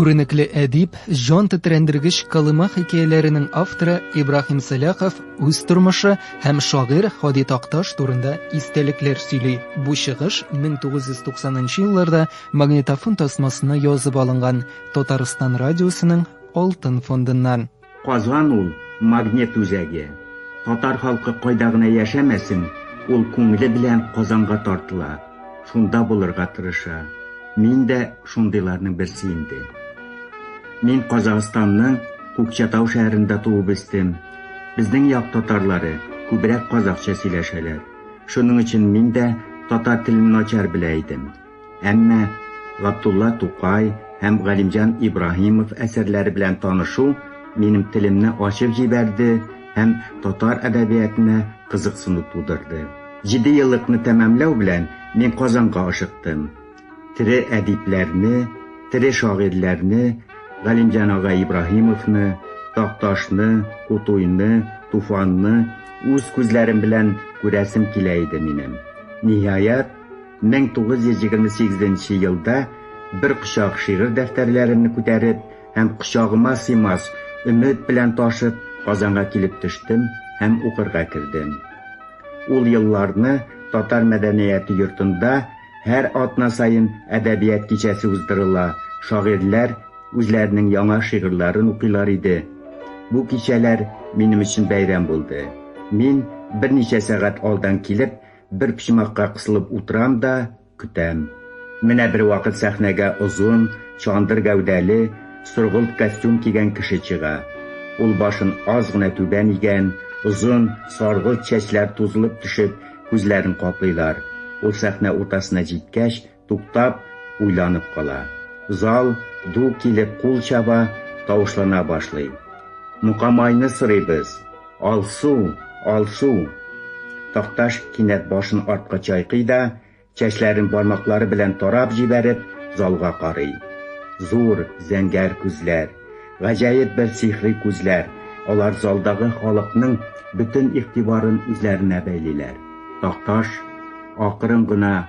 Күренекле әдип, җан тетрәндергеч кылыма хикәяләренең авторы Ибраһим Сәлахов үз тормышы һәм шагыйрь Ходит Такташ турында истәлекләр сөйли. Бу чыгыш 1990 елларда магнитофон тасмасына язып алынган Татарстан радиосының алтын фондыннан. Казан ул, магнет үзәге. Татар халкы кайда гына яшәмәсен, ул күңеле белән Казанга тартыла, шунда булырга тырыша. Мин дә шундыйларның берсе инде. Мин Казахстанның Күкчатау шәһәрендә туып үстем. Безнең як татарлары күбрәк казахча сөйләшәләр. Шуның өчен мин дә татар телен начар белә идем. Әмма Габдулла Тукай һәм Галимҗан Ибраһимов әсәрләре белән танышу минем телемне ачып җибәрде һәм татар әдәбиятына кызыксыну тудырды. Җиде еллыкны тәмамлау белән мин Казанга ашыктым. Тере әдипләрне, тере шагыйрьләрне, Галимҗан ага Ибраһимовны, Такташны, Кутуйны, Туфанны үз күзләрем белән күрәсем килә иде минем. Ниһаять, 1928 нче елда бер кочак шигырь дәфтәрләремне күтәреп һәм кочагыма сыймас өмет белән ташып Казанга килеп төштем һәм укырга кердем. Ул елларны татар мәдәнияте йортында һәр атна саен әдәбият кичәсе уздырыла, шагыйрьләр үзләренең яңа шигырьләрен укыйлар иде. Бу кичәләр минем өчен бәйрәм булды. Мин берничә сәгать алдан килеп, Бер почмакка кысылып утырам да көтәм. Менә бервакыт сәхнәгә озын, чандыр гәүдәле, соргылт костюм кигән кеше чыга. Ул башын аз гына түбән игән, озын, саргылт чәчләр тузылып төшеп, күзләрен каплыйлар. Ул сәхнә уртасына җиткәч, Туктап, уйланып кала. Зал ду килеп кул чаба, тавышлана башлый. Мукамайны сорыйбыз! Алсу! Алсу! Такташ кинәт башын артка чайкый да, чәчләрен бармаклары белән тарап җибәреп, залга карый. Зур, зәңгәр күзләр. Гаҗәеп бер сихри күзләр, алар залдагы халыкның бөтен игътибарын үзләренә бәйлиләр. Такташ акрын гына.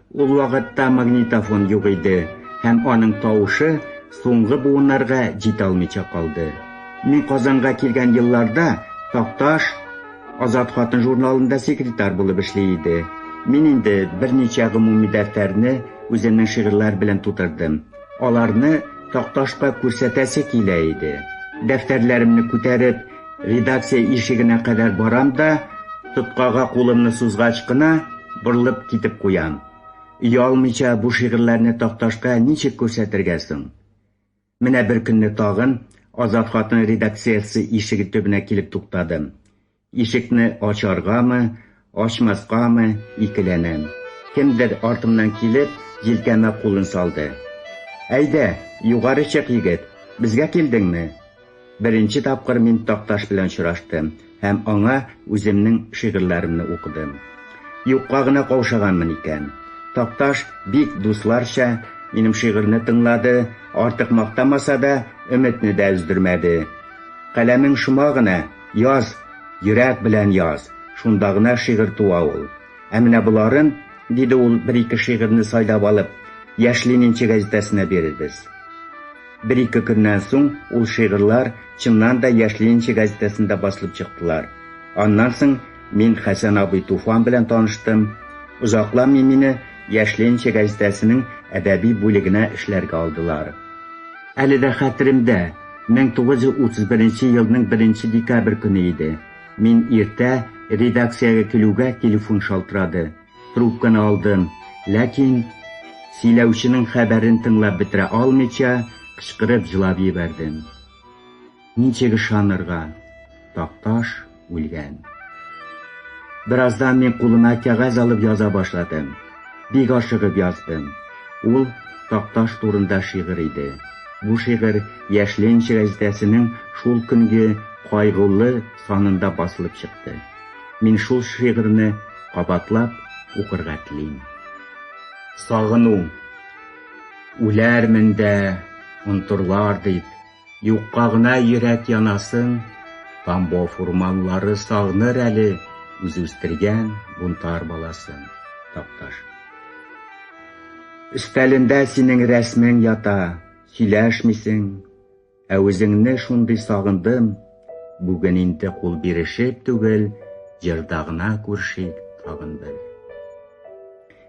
Ул вакытта магнитофон юк иде, һәм аның тавышы соңгы буыннарга җитә алмыйча калды. Мин Казанга килгән елларда Такташ Азат хатын журналында секретарь булып эшли иде. Мин инде берничә гомуми дәфтәрне үземнең шигырьләр белән тутырдым. Аларны Такташка күрсәтәсе килә иде. Дәфтәрләремне күтәреп, Редакция ишегенә кадәр барам да, тоткага кулымны сузгач кына, борылып китеп куям. Оялмыйча бу шигырьләрне такташка ничек күрсәтергә соң? Менә беркөнне тагын Азат хатын редакциясе ишеге төбенә килеп туктадым. Ишекне ачаргамы, Ачмаскамы, икеләнәм. Кемдер артымнан килеп, җилкәмә кулын салды. Әйдә, югары чык, егет, безгә килдеңме? Беренче тапкыр мин Такташ белән очраштым һәм аңа үземнең шигырьләремне укыдым. Юкка гына каушаганмын икән. Такташ бик дусларча минем шигырьне тыңлады, артык мактамаса да, өметне дә өздермәде. Каләмең шома гына! Яз, йөрәк белән яз, шунда гына шигырь туа ул. Ә менә боларын, диде ул, бер-ике шигырьне сайлап алып, Яшь ленинчы гәзитәсенә бирербез. Бер-ике көннән соң ул шигырьләр, чыннан да, Яшь ленинчы гәзитәсендә басылып чыктылар. Аннан соң мин Хәсән абый Туфан белән таныштым. Озакламый мине Яшь ленинчы гәзитәсенең әдәби бүлегенә эшләргә алдылар. Әле дә хәтеремдә. 1931 елның беренче декабрь көне иде. Мин иртә редакциягә килүгә телефон шалтырады. Трубканы алдым, ләкин сөйләүченең хәбәрен тыңлап бетерә алмыйча, кычкырып җылап җибәрдем. Ничек ышанырга? Такташ. үлгән. Бераздан мин кулыма кәгазь алып яза башладым. Бик ашыгып яздым. Ул Такташ турында шигырь иде. Бу шигырь Яшьленч гәзитәсенең шул көнге кайгылы санында басылып чыкты. Мин шул шигырьне кабатлап укырга телим. Сагыну. Үләрмен дә, онтырлар дип. Юкка гына йөрәк янасын, Тамбов урманлары сагныр әле үз үстергән бунтарь баласын, Такташ. Өстәлендә синең рәсмең ята, сөйләшмисең, ә үзеңне шундый сагындым, бүген инде кул бирешеп түгел, җырда гына күршик тагын бер.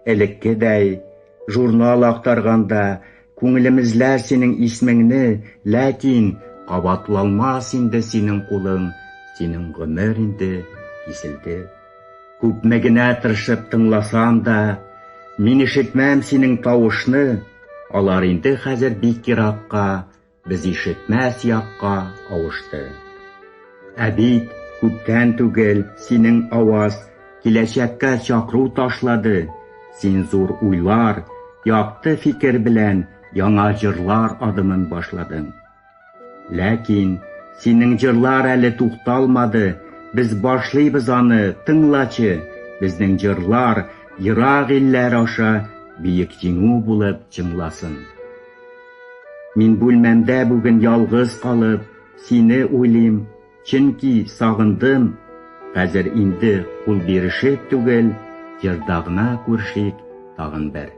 Элеккедәй, журнал актарганда, Күңелемездә синең исмеңне, ләкин Кабатлалмас инде синең кулың, Синең гомер инде киселде. Күпме генә тыршып тыңласам да, Мин ишетмәм синең тавышны, Алар инде хәзер бик еракка, Без ишетмәс якка авышты. Ә бит күптән түгел синең аваз киләчәккә чакыру ташлады. Син зур уйлар, якты фикер белән яңа җырлар адымын башладың. Ләкин синең җырлар әле тукталмады, без башлыйбыз аны, тыңлачы, безнең җырлар ерак илләр аша биек җиңү булып җыңласын. Мин бүлмәмдә бүген ялгыз калып, сине уйлыйм, чөнки сагындым. Хәзер инде кул бирешеп түгел, җырда гына күрешик тагын бер.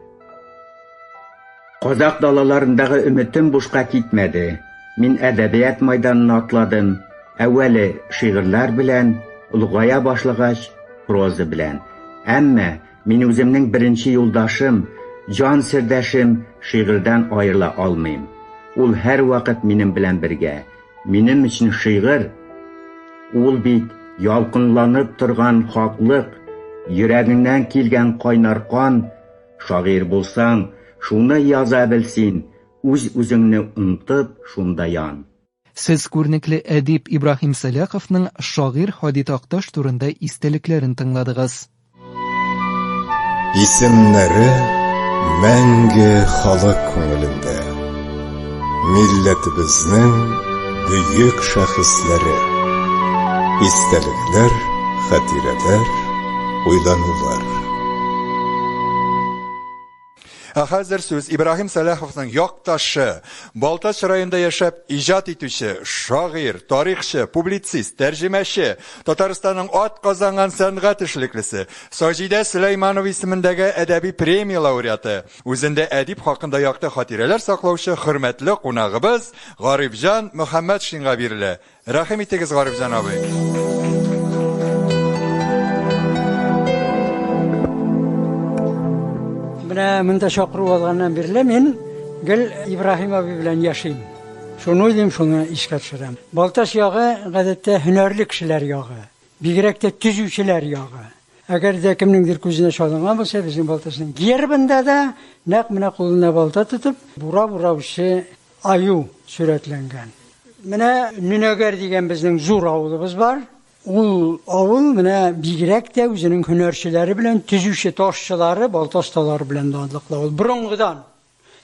Казакъ далаларындагы өметем бушка китмәде. Мин әдәбият майданына атладым, әүвәле шигырьләр белән, олыгая башлагач, проза белән. Әмма. Мин үземнең беренче юлдашым, җан сердәшем шигырьдән аерыла алмыйм. Ул һәрвакыт минем белән бергә. Минем өчен шигырь, ул бит ялкынланып торган хаклык, йөрәгеңнән килгән кайнар кан. Шагыйрь булсаң, шуны яза бел син, үз-үзеңне онтып, шунда ян. Сез күрнекле әдип Ибраһим Сәлаховның шагыйрь Һади Такташ турында истәлекләрен тыңладыгыз. Исемнәре мәңге халык күңелендә. Милләтебезнең бөек шәхесләре. Истәлекләр, хатирәләр, уйланулар. Ә хәзер сүз Ибраһим Сәлаховның якташы, Балтач районында яшәп иҗат итүче, шагыйрь, тарихчы, публицист, тәрҗемәче, Татарстанның атказанган сәнгать эшлеклесе, Саҗидә Сөләйманова исемендәге әдәби премия лауреаты, үзендә әдип хакында якты хатирәләр саклаучы хөрмәтле кунагыбыз Гарифҗан Мөхәммәтшинга бирелә. Рәхим итегез, Гарифҗан абый! Менә монда чакыру алганнан бирле мин гел Ибраһим абый белән яшим. Шуны уйлыйм, шуны искә төшерәм. Балтач ягы, гадәттә, һөнәрле кешеләр ягы. Бигрәк тә төзүчеләр ягы. Әгәр дә кемнеңдер күзенә чалынган булса, безнең Балтачның гербында да нәкъ менә кулына балта тотып, бурап ураучы Аю сурәтләнгән. Менә Нөнәгәр дигән безнең зур авылыбыз бар. Ул авыл менә бигрәк тә үзенең һөнәрчеләре белән, төзүче ташчылары, балта осталары белән данлыклы авыл. Борынгыдан.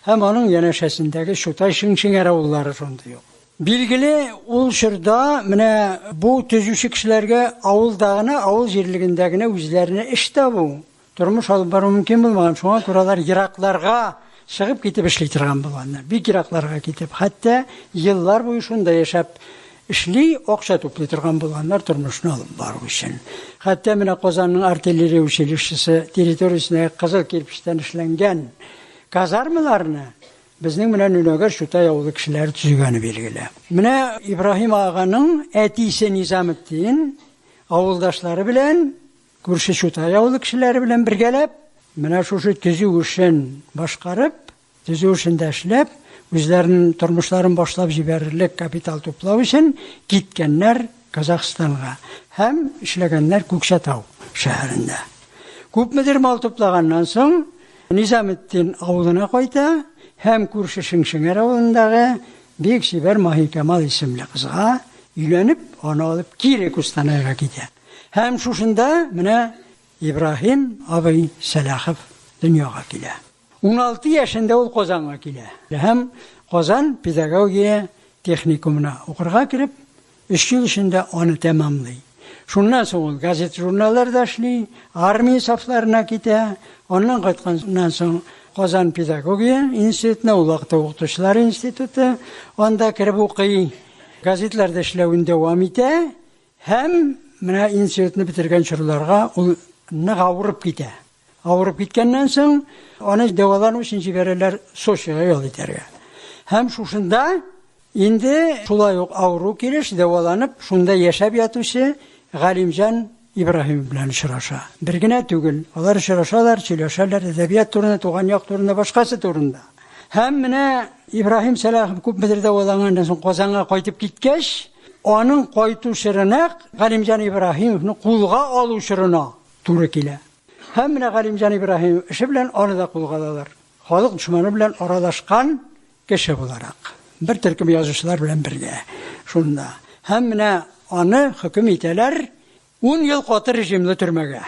Һәм аның янәшәсендәге Чутай, Шиңшеңәр авыллары шундый ук. Билгеле, ул чорда менә бу төзүче кешеләргә авылда гына, авыл җирлегендә генә үзләренә эш табу, Тормыш алып бару мөмкин булмаган, шуңа күрә алар еракларга чыгып китеп эшли торган булганнар. Бик еракларга китеп, хәтта еллар буе шунда яшәп эшли, акча туплый торган булганнар тормышны алып бару өчен. Хәтта менә Казанның артиллерия училищесы территориясендә кызыл кирпечтән эшләнгән казармаларны безнең менә Нөнәгәр Чутай авылы кешеләре төзегәне билгеле. Менә Ибраһим аганың әтисе Низаметдин авылдашлары белән Күрше Чутай авылы кешеләре белән бергәләп, менә шушы төзү эшен башкарып, төзү эшендә эшләп, үзләренең тормышларын башлап җибәрерлек капитал туплау өчен киткәннәр Казахстанга һәм эшләгәннәр Күкчәтау шәһәрендә. Күпмедер мал туплаганнан соң, Низаметдин авылына кайта һәм күрше Шеңшеңәр авылындагы бик чибәр Маһикамал исемле кызга өйләнеп, аны алып кире Кустанайга китә. Һәм шушында менә Ибраһим абый Сәлахов дөньяга килә. Уналты яшендә ул Казанга килә һәм Казан педагогия техникумына укырга кереп, өч ел эчендә аны тәмамлый. Шуннан соң ул газета-журналларда эшли, армия сафларына китә, аннан кайтканнан соң Казан педагогия институтына, ул вакытта укытучылар институты, анда кереп укый, газетларда эшләвен дәвам итә. Һәм менә институтны бетергән чорларга ул нык авырып китә. Авырып киткәннән соң, аны дәвалану өчен җибәрәләр Сочига ял итәргә. Һәм шушында инде шулай ук авыру килеш дәваланып, шунда яшәп ятучы Галимҗан Ибраһимов белән очраша. Бер генә түгел, алар очрашалар, сөйләшәләр әдәбият турында, туган як турында, башкасы турында. Һәм менә Ибраһим Сәлахов күпмедер дәваланганнан соң Казанга кайтып киткәч, Аның кайту чоры нәкъ Галимҗан Ибраһимовны кулга алу чорына туры килә. Һәм менә Галимҗан Ибраһимов эше белән аны да кулга алалар. Халык дошманы белән аралашкан кеше буларак. Бер төркем язучылар белән бергә шунда. Һәм менә аны хөкем итәләр Ун ел каты режимлы төрмәгә.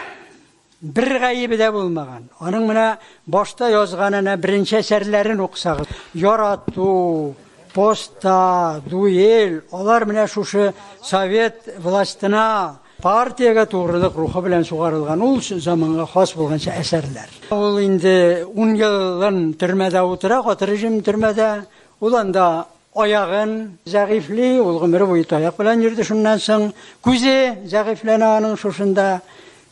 Бер гаебе дә булмаган. Аның менә башта язган әнә беренче әсәрләрен укысагыз. Ярату, Поста, Дуэль, алар менә шушы совет властена, партиягә тугрылык рухы белән сугарылган ул заманга хас булганча әсәрләр. Ул инде ун елын төрмәдә утыра, каты режим төрмәдә. Ул анда Аягын зәгыйфьли, ул гомере буе таяк белән йөрде, шуннан соң күзе зәгыйфьләнә аның шушында.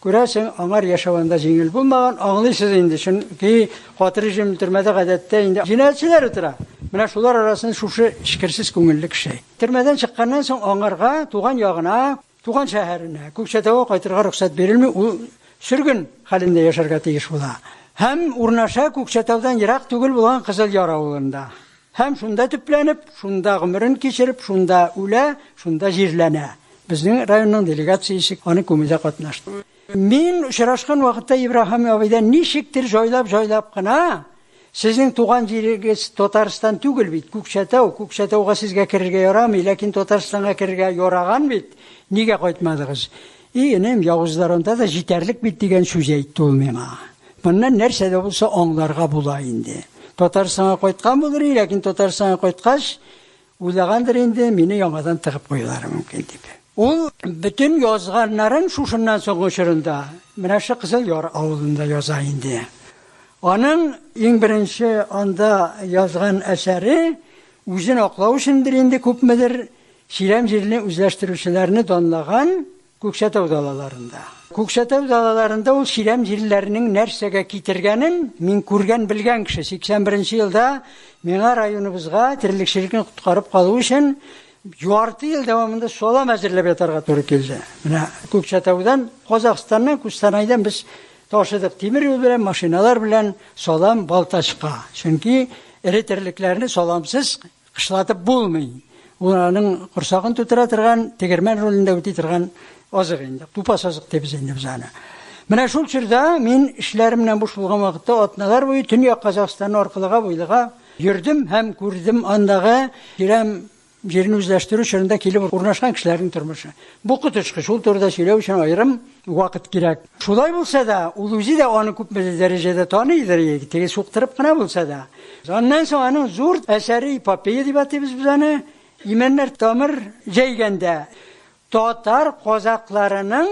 Күрәсең, аңар яшәү анда җиңел булмаган, аңлыйсыз инде, чөнки каты режим төрмәдә гадәттә инде җинаятьчеләр утыра. Менә шулар арасында шушы эчкерсез күңелле кеше. Төрмәдән чыкканнан соң аңарга туган ягына, Туган шәһәренә, Күкчәтауга кайтырга рөхсәт бирелми, ул сөргөн хәлендә яшәргә тиеш була. Һәм урнаша Күкчәтаудан ерак түгел булган Кызылъяр авылында. Һәм шунда төпләнеп, шунда гомерен кичереп, шунда үлә, шунда җирләнә. Безнең районның делегациясе аны күмүдә катнашты. Мин очрашкан вакытта Ибраһим абыйдан ничектер җайлап-җайлап кына, Сезнең туган җирегез Татарстан түгел бит, Күкчәтау, Күкчәтауга сезгә керергә ярамый, ләкин Татарстанга керергә яраган бит, нигә кайтмадыгыз? И, энем, явызлар анда да җитәрлек бит, дигән сүз әйтте ул миңа. Моннан нәрсә дә булса аңларга була инде. Татарстанга кайткан булыр иде, ләкин Татарстанга кайткач, Уйлагандыр инде, мине яңадан тыгып куюлары мөмкин дип. Ул бөтен язганнарын шушыннан соңгы чорында менә шул Кызыл Яр авылында яза инде. Аның иң беренче анда язган әсәре, үзен аклау өчендер инде күпмедер, чирәм җирне үзләштерүчеләрне данлаган Күкчәтау далаларында. Күкчәтау далаларында ул чирәм җилләренең нәрсәгә китергәнен мин күргән, белгән кеше. 81 нче елда миңа районыбызга терлекчелекне коткарып калу өчен ярты ел дәвамында салам әзерләп ятарга туры килде. Менә Күкчәтаудан, Казахстаннан, Кустанайдан без ташыдык тимер юл белән, машиналар белән салам Балтачка. Чөнки эре терлекләрне саламсыз Кышлатып булмый. Ул аның корсагын тутыра торган, тегермән ролендә үти торган азык инде. Тупас азык дибез инде без аны. Менә шул чорда мин эшләремнән буш булган вакытта атналар буе Төньяк Казахстанны аркылыга буйлыга йөрдем һәм күрдем андагы тирән җирне үзләштерү чорында килеп урнашкан кешеләрнең тормышы. Бу коточкыч, ул турыда сөйләү өчен аерым вакыт кирәк. Шулай булса да, ул үзе дә аны күпмедер дәрәҗәдә таныйдыр, теге суктырып кына булса да. Аннан соң аның зур әсәре эпопея дип атыйбыз без аны. Имәннәр тамыр җәйгәндә татар казакларының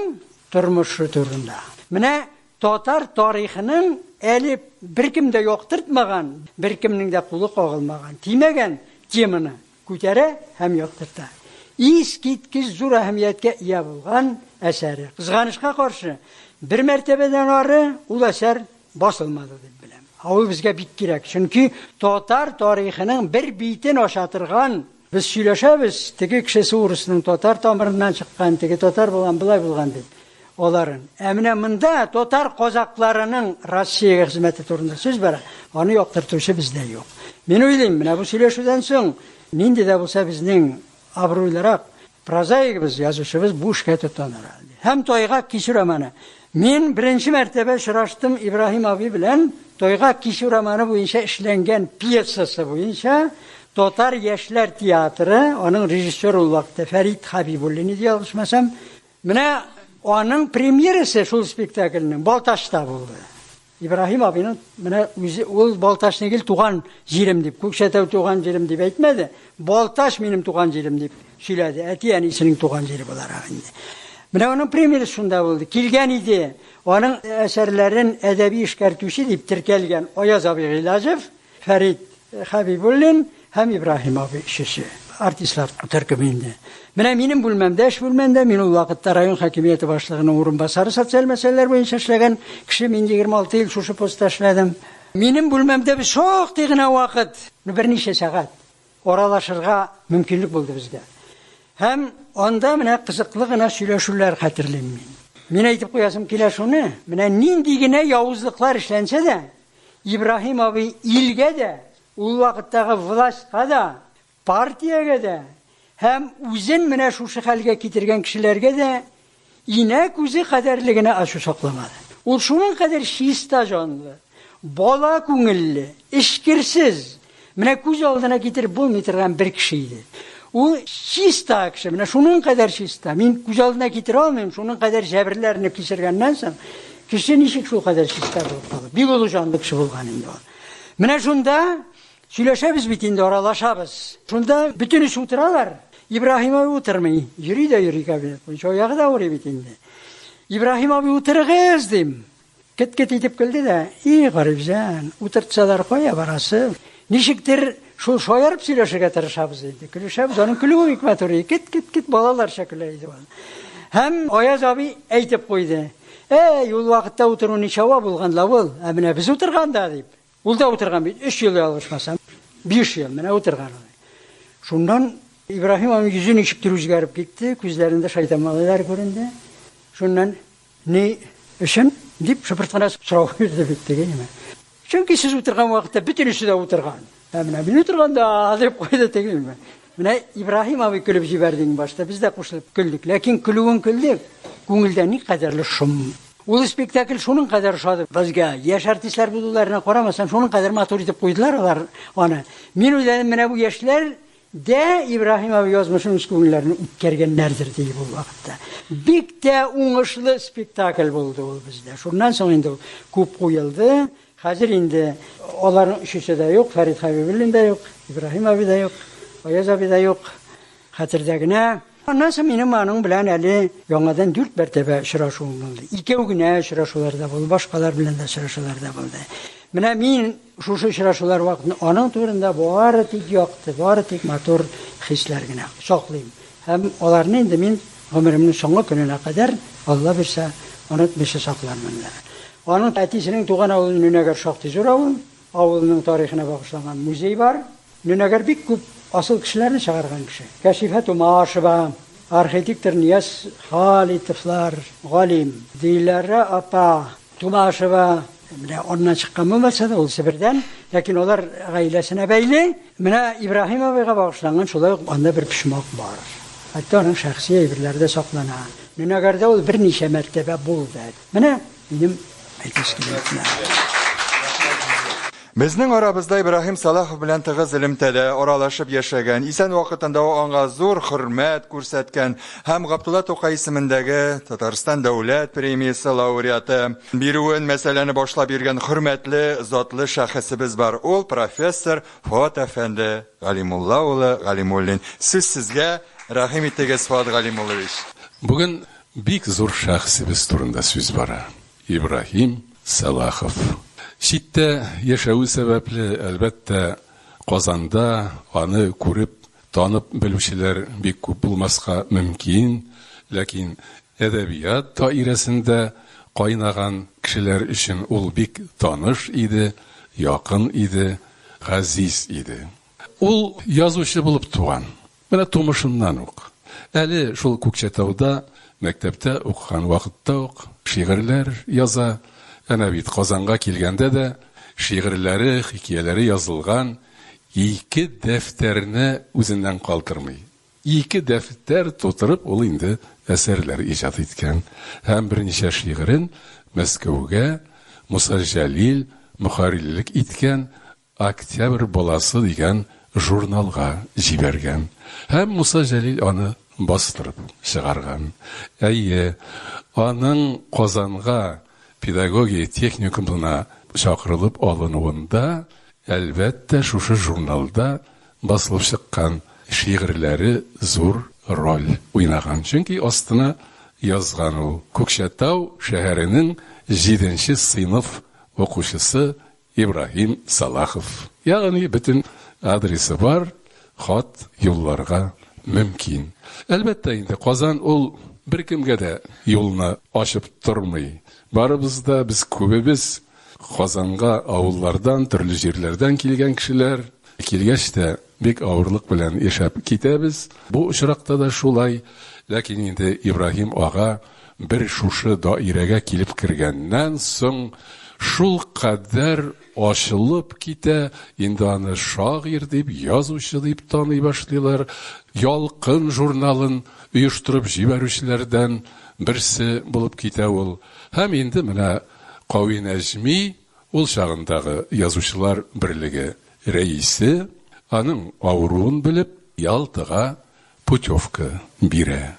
тормышы турында. Менә татар тарихының әле беркем дә яктыртмаган, беркемнең дә кулы кагылмаган, тимәгән теманы Күтәрә һәм яктырта. Искиткеч зур әһәмияткә ия булган әсәре. Кызганычка каршы, бер мәртәбәдән ары ул әсәр басылмады дип беләм. Ә ул безгә бик кирәк, чөнки татар тарихының бер битен ача торган, без сөйләшәбез, теге кешесе урысның татар тамырыннан чыккан, теге татар булган, болай булган дип. Аларын. Ә менә монда татар казакларының Россиягә хезмәте турында сүз бара, аны яктыртучы бездә юк. Мин уйлыйм, менә бу сөйләшүдән соң нинди дә булса безнең абруйлырак прозаигыбыз, язучыбыз бу эшкә тотыныр әле. Һәм Тайгак кичү романы. Мин беренче мәртәбә очраштым Ибраһим абый белән Тайгак кичү романы буенча эшләнгән пьесасы буенча Татар яшьләр театры, аның режиссеры ул вакытта Фәрит Хәбибуллин иде, ялгышмасам, Менә аның премьерасы шул спектакльнең Балтачта булды. Ибраһим абыйның менә үзе ул Балтач нигел туган җирем дип, Күкшәтәү туган җирем дип әйтмәде, Балтач минем туган җирем дип сөйләде, әти-әнисенең туган җире буларак инде. Менә аның премьерасы шунда булды. Килгән иде, аның әсәрләрен әдәби эшкәртүче дип теркәлгән Аяз абый Гыйләҗев, Фәрит Хәбибуллин һәм Ибраһим абый өчесе. Артистлар төркеме инде. Менә минем бүлмәмдә, эш бүлмәмдә мин ул вакытта район хакимияте башлыгының урынбасары, социаль мәсьәләләр буенча эшләгән кеше, мин 26 ел шушы постта эшләдем. Минем бүлмәмдә без шактый гына вакыт, берничә сәгать аралашырга мөмкинлек булды безгә. Һәм анда менә кызыклы гына сөйләшүләр хәтерлим мин. Мин әйтеп куясым килә шуны, менә нинди генә явызлыклар эшләнсә дә, Ибраһим абый илгә дә, ул вакыттагы властька да, партиягә дә һәм үзен менә шушы хәлгә китергән кешеләргә дә инә күзе кадәрле генә ачу сакламады. Ул шуның кадәр чиста җанлы, бала күңелле, эчкерсез, Менә күз алдына китереп булмый торган бер кеше иде. Ул чиста кеше, менә шуның кадәр чиста. Мин күз алдына китерә алмыйм, шуның кадәр җәберләрне кичергәннән соң, кеше ничек шул кадәр чиста булып кала? Бик олы җанлы кеше булган инде ул. Менә шунда сөйләшәбез бит инде, аралашабыз. Шунда бөтен эш утыралар. Ибраһим абый утырмый. Йөри дә йөри кабинет буенча. Аягы да авырый бит инде. Ибраһим абый утырыгыз, дим. Кет-кет итеп көлде дә, И, Гарифҗан, утыртсалар, кая барасы? Ничектер, шул шаярып сөйләшергә тырышабыз инде. Көлешәбез, аның көлүе бик матур иде. Кет-кет-кет балаларча көлә иде ул. Һәм Аяз абый әйтеп куйды. Әй, ул вакытта утыру ничава булган да ул, ә менә без утырганда, дип. Ул да утырган бит, өч ел ялгышмасам, биш ел менә утырган ул. Шуннан Ибраһим аның йөзе ничектер үзгәреп китте, күзләрендә шайтан малайлар күренде. Шуннан Ни өчен? дип шыпырт кына сорау бирде бит теге нимә. Чөнки сез утырган вакытта бөтен өчесе дә утырган. Ә менә мин утырганда, дип куйды теге нимә. Менә Ибраһим абый көлеп җибәрде иң башта, без дә кушылып көлдек. Ләкин көлүен көлдек, күңелдә никадәрле шом. Ул спектакль шуның кадәр ошады безгә. Яшь артистлар булуларына карамастан, шуның кадәр матур итеп куйдылар алар аны. Мин уйлыйм, менә бу яшьләр Дә, Ибраһим абый язмышын үз күңелләреннән үткәргәннәрдер, ди ул вакытта. Бик тә уңышлы спектакль булды ул бездә. Шуннан соң инде ул күп куелды. Хәзер инде аларның өчесе дә юк, Фәрит Хәбибуллин да юк, Ибраһим абый да юк, Аяз абый да юк, хәтердә генә. Аннан соң минем аның белән әле яңадан дүрт мәртәбә очрашуым булды. Икәү генә очрашулар да булды, башкалар белән дә очрашулар да булды. Менә мин шушы очрашулар вакытын аның турында бары тик якты, бары тик матур хисләр генә саклыйм. Һәм аларны инде мин гомеремнең соңгы көненә кадәр, Алла бирсә, онытмыйча саклармын да. Аның әтисенең туган авылы Нөнәгәр шактый зур авыл. Авылының тарихына багышланган музей бар. Нөнәгәр бик күп асыл кешеләрне чыгарган кеше. Кәшифә Тумашева, архитектор Нияз Халитовлар, галим Диләрә апа Тумашева, менә аннан чыккан булмаса да, ул Себердән, ләкин алар гаиләсенә бәйле. Менә Ибраһим абыйга багышланган шулай ук анда бер почмак бар. Хәтта аның шәхси әйберләре дә саклана. Нөнәгәрдә ул берничә мәртәбә булды. Менә Минем әйтәсе килә. Безнең арабызда Ибраһим Салахов белән тыгыз элемтәдә аралашып яшәгән, исән вакытында аңа зур хөрмәт күрсәткән һәм Габдулла Тукай исемендәге Татарстан дәүләт премиясе лауреаты бирүен мәсьәләне башлап йөргән хөрмәтле затлы шәхесебез бар. Ул профессор Фоат әфәнде Галимулла улы Галимуллин. Сүз сезгә, рәхим итегез, Фоат Галимуллович. Бүген Бик зур шәхесебез турында сүз бара. Ибраһим Сәлахов. Читтә яшәве сәбәпле, әлбәттә, Казанда аны күреп, танып белүчеләр бик күп булмаска мөмкин, ләкин әдәбият даирәсендә кайнаган кешеләр өчен ул бик таныш иде, якын иде, газиз иде. Ул язучы булып туган. Менә тумышыннан ук, әле шул Күкчәтауда мәктәптә укыган вакытта ук шигырьләр яза, әнә бит Казанга килгәндә дә шигырьләре, хикияләре язылган ике дәфтәрне үзеннән калдырмый. Ике дәфтәр тутырып ул инде әсәрләр иҗат иткән һәм берничә шигырен Мәскәүгә Муса Җәлил мөхәррирлек иткән Октябрь баласы дигән журналга җибәргән һәм Муса Җәлил аны бастырып чыгарган. Әйе, аның Казанга педагогия техникумына чакырылып алынуын да, әлбәттә, шушы журналда басылып чыккан шигырьләре зур роль уйнаган, чөнки астына язган ул, Күкчәтау шәһәренең җиденче сыйныф укучысы Ибраһим Салахов. Ягъни бөтен адресы бар, хат юлларга мөмкин. Әлбәттә инде, Казан ул беркемгә дә юлны ачып тормый. Барыбыз да, без күбебез Казанга авыллардан, төрле җирләрдән килгән кешеләр. Килгәч тә, бик авырлык белән яшәп китәбез. Бу очракта да шулай. Ләкин инде Ибраһим ага Бер шушы даирәгә килеп кергәннән соң шулкадәр ачылып китә, инде аны шагыйрь дип, язучы дип таный башлыйлар. Ялкын журналын оештырып җибәрүчеләрдән берсе булып китә ул. Һәм инде менә Кави Нәҗми, ул чагындагы Язучылар берлеге рәисе, аның авыруын белеп, Ялтага путевка бирә.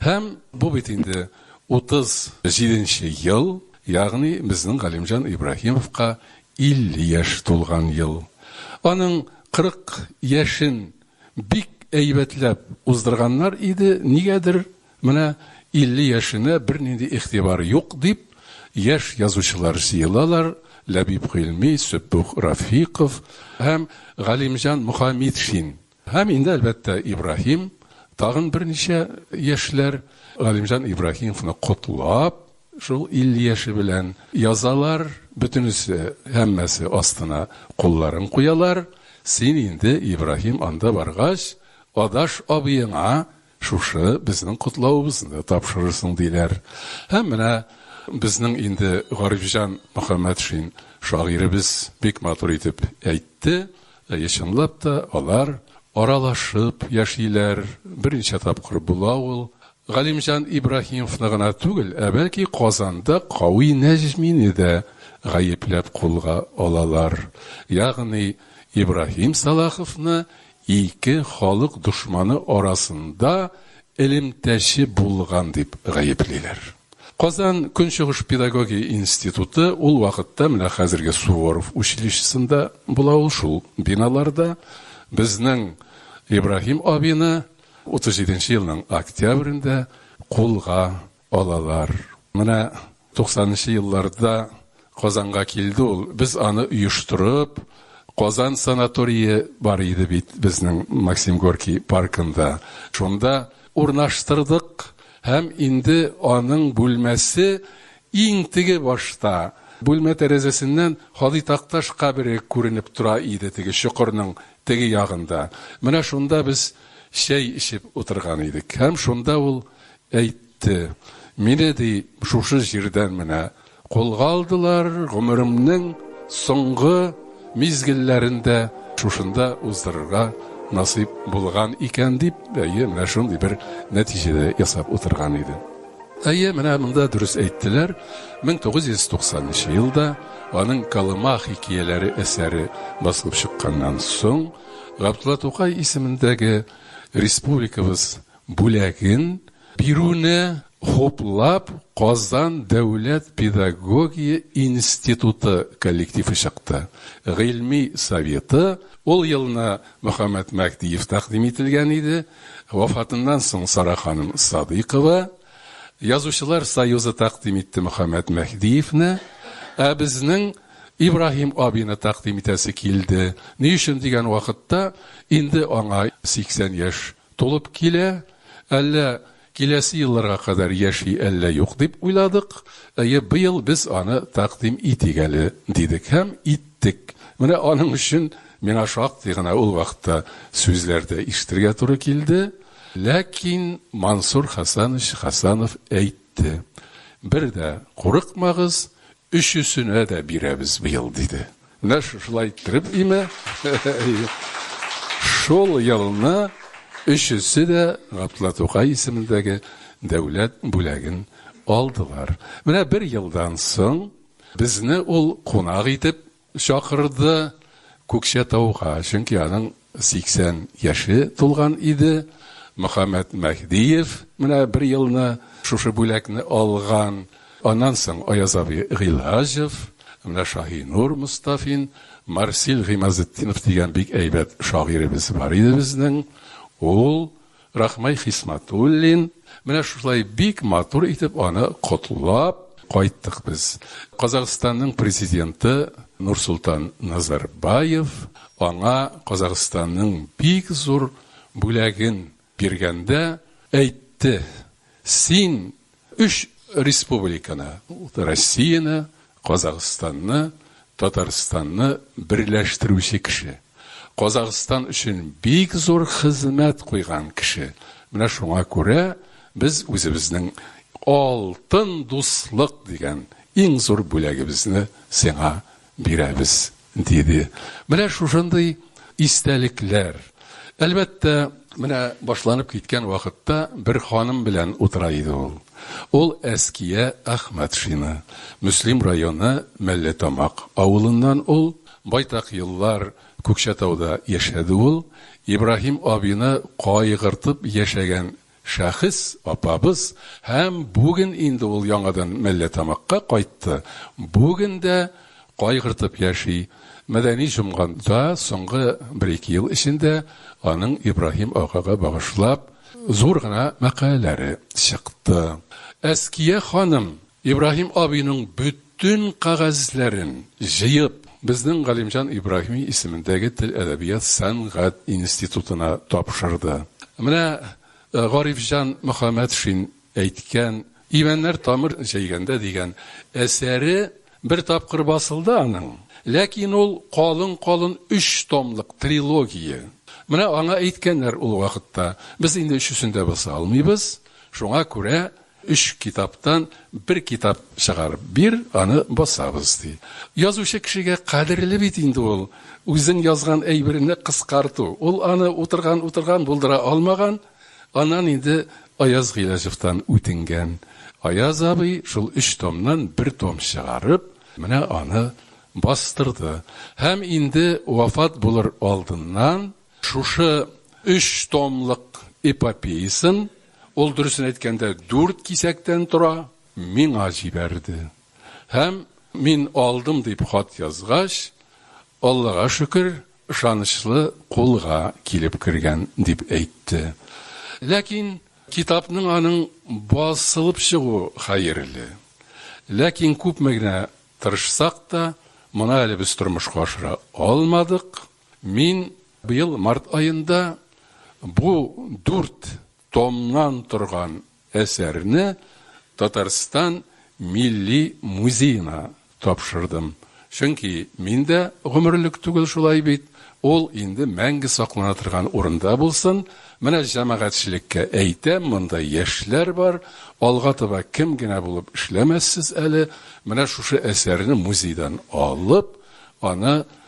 Һәм бу бит инде 37 нче ел, ягъни безнең Галимҗан Ибраһимовка 50 яшь тулган ел. Аның 40 яшен бик әйбәтләп уздырганнар иде, нигәдер менә 50 яшенә бернинди игътибар юк дип, яшь язучылар җыелалар, Ләбиб Гыйльми, Сөббух Рафиков һәм Галимҗан Мөхәммитшин Һәм инде, әлбәттә, Ибраһим тагын берничә яшьләр Галимҗан Ибраһимовны котлап, шул 50 яше белән язалар, бөтенесе, һәммәсе астына кулларын куялар, син инде, Ибраһим, анда баргач, адаш абыеңа, Шушы безнең котлавыбызны тапшырырсың, диләр. Һәм менә безнең инде Гарифҗан Мөхәммәтшин шагыйребез бик матур итеп әйтте. Әйе, чынлап та, алар аралашып яшиләр. Берничә тапкыр була ул. Галимҗан Ибраһимовны гына түгел, ә бәлки Казанда Кави Нәҗмине дә гаепләп кулга алалар. Ягъни Ибраһим Сәлаховны Ике халык дошманы арасында элемтәче булган дип гаеплиләр. Казан Көнчыгыш педагогия институты ул вакытта, менә хәзерге Суворов училищесында була ул, шул биналарда, безнең Ибраһим абины 37 нче елның октябрендә кулга алалар. Менә туксанынчы елларда Казанга килде ул. Без аны оештырып, Казан санаторие бар иде бит безнең Максим Горький паркында. Шунда урнаштырдык һәм инде аның бүлмәсе иң теге башта. Бүлмә тәрәзәсеннән Һади Такташ кабере күренеп тора иде теге чокырның теге ягында. Менә шунда без чәй эчеп утырган идек һәм шунда ул Әйтте. Мине, ди, шушы җирдән менә кулга алдылар, гомеремнең соңгы мизгелләрен дә шушында уздырырга насыйп булган икән, дип, әйе, менә шундый бер нәтиҗәдә ясап утырган иде. Әйе, менә монда дөрес әйттеләр, 1990 нчы елда аның Колыма хикияләре әсәре басылып чыкканнан соң, Габдулла Тукай исемендәге республикабыз бүләген бирүне хуплап Казан дәүләт педагогия институты коллективы чыкты. Гыйльми советы ул елны Мөхәммәт Мәһдиев тәкъдим ителгән иде, вафатыннан соң Сара ханым Садыйкова. Язучылар союзы тәкъдим итте Мөхәммәт Мәһдиевне, ә безнең Ибраһим абыйны тәкъдим итәсе килде. Ни өчен дигән вакытта, инде аңа 80 яшь Тулып килә, әллә киләсе елларга кадәр яши, әллә юк, дип уйладык. Әйе, быел без аны тәкъдим итик әле, дидек һәм иттек. Менә аның өчен миңа шактый гына ул вакытта сүзләр дә ишетергә туры килде. Ләкин Мансур Хәсәнович Хәсәнов әйтте, Бер дә курыкмагыз, өчесенә дә бирәбез быел, диде. Менә шушылай иттереп име. Шул елны өчесе дә Габдулла Тукай исемендәге дәүләт бүләген алдылар. Менә бер елдан соң безне ул кунак итеп чакырды Күкчәтауга, чөнки аның 80 яше тулган иде. Мөхәммәт Мәһдиев менә бер елны шушы бүләкне алган. Аннан соң Аяз абый Гыйлаҗев, менә Шаһинур Мостафин, Марсил Гыймазетдинов дигән бик әйбәт шагыйребез бар иде безнең. Ул Рахмай Хисматуллин, менә шулай бик матур итеп аны котлап кайттык без. Казахстанның президенты Нурсултан Назарбаев аңа Казахстанның бик зур бүләген биргәндә әйтте, Син Өч республиканы, Россияне, Казахстанны, Татарстанны берләштерүче кеше. Казахстан өчен бик зур хезмәт куйган кеше. Менә шуңа күрә без үзебезнең алтын дуслык дигән иң зур бүләгебезне сиңа бирәбез, диде. Менә шушындый истәлекләр. Әлбәттә, менә башланып киткән вакытта бер ханым белән утыра иде ул. Ул Әския Әхмәтшина. Мөслим районы Мәлләтамак авылыннан ул. Байтак еллар Күкчәтауда яшәде ул. Ибраһим абыйны кайгыртып яшәгән Шәхес апабыз һәм бүген инде ул яңадан Мәлләтамакка кайтты, бүген дә кайгыртып яши. Мәдәни җомгада соңгы бер-ике ел эчендә аның Ибраһим агага багышлап зур гына мәкаләләре чыкты. Әския ханым Ибраһим абыйның бөтен кәгазьләрен җыеп, безнең Галимҗан Ибраһими исемендәге тел-әдәбият сәнгать институтына тапшырды. Менә Гарифҗан Мөхәммәтшин әйткән Имәннәр тамыр җәйгәндә дигән әсәре бер тапкыр басылды аның, ләкин ул калын-калын өч томлык трилогия. Менә аңа әйткәннәр ул вакытта, Без инде өчесен дә баса алмыйбыз, шуңа күрә Өч китаптан бер китап чыгарып бир, аны басабыз, ди. Язучы кешегә кадерле бит инде ул үзен язган әйберне кыскарту. Ул аны утырган-утырган булдыра алмаган, аннан инде Аяз Гыйләҗевтан үтенгән. Аяз абый шул өч томнан бер том чыгарып, менә аны бастырды. Һәм инде вафат булыр алдыннан Шушы өч томлык эпопеясын, ул, дөресен әйткәндә, дүрт кисәктән тора, миңа җибәрде. Һәм мин алдым дип хат язгач, Аллага шөкер, ышанычлы кулга килеп кергән, дип әйтте. Ләкин китапның аның басылып чыгу хәерле. Ләкин күпме генә тырышсак та, моны әле без тормышка ашыра алмадык. Мин быел март аенда бу дүрт томнан торган әсәрне Татарстан Милли музеена тапшырдым. Чөнки мин дә гомерлек түгел шулай бит, ул инде мәңге саклана торган урында булсын. Менә җәмәгатьчелеккә әйтәм, монда яшьләр бар, алга таба кем генә булып эшләмәссез әле, менә шушы әсәрне музейдан алып, аны,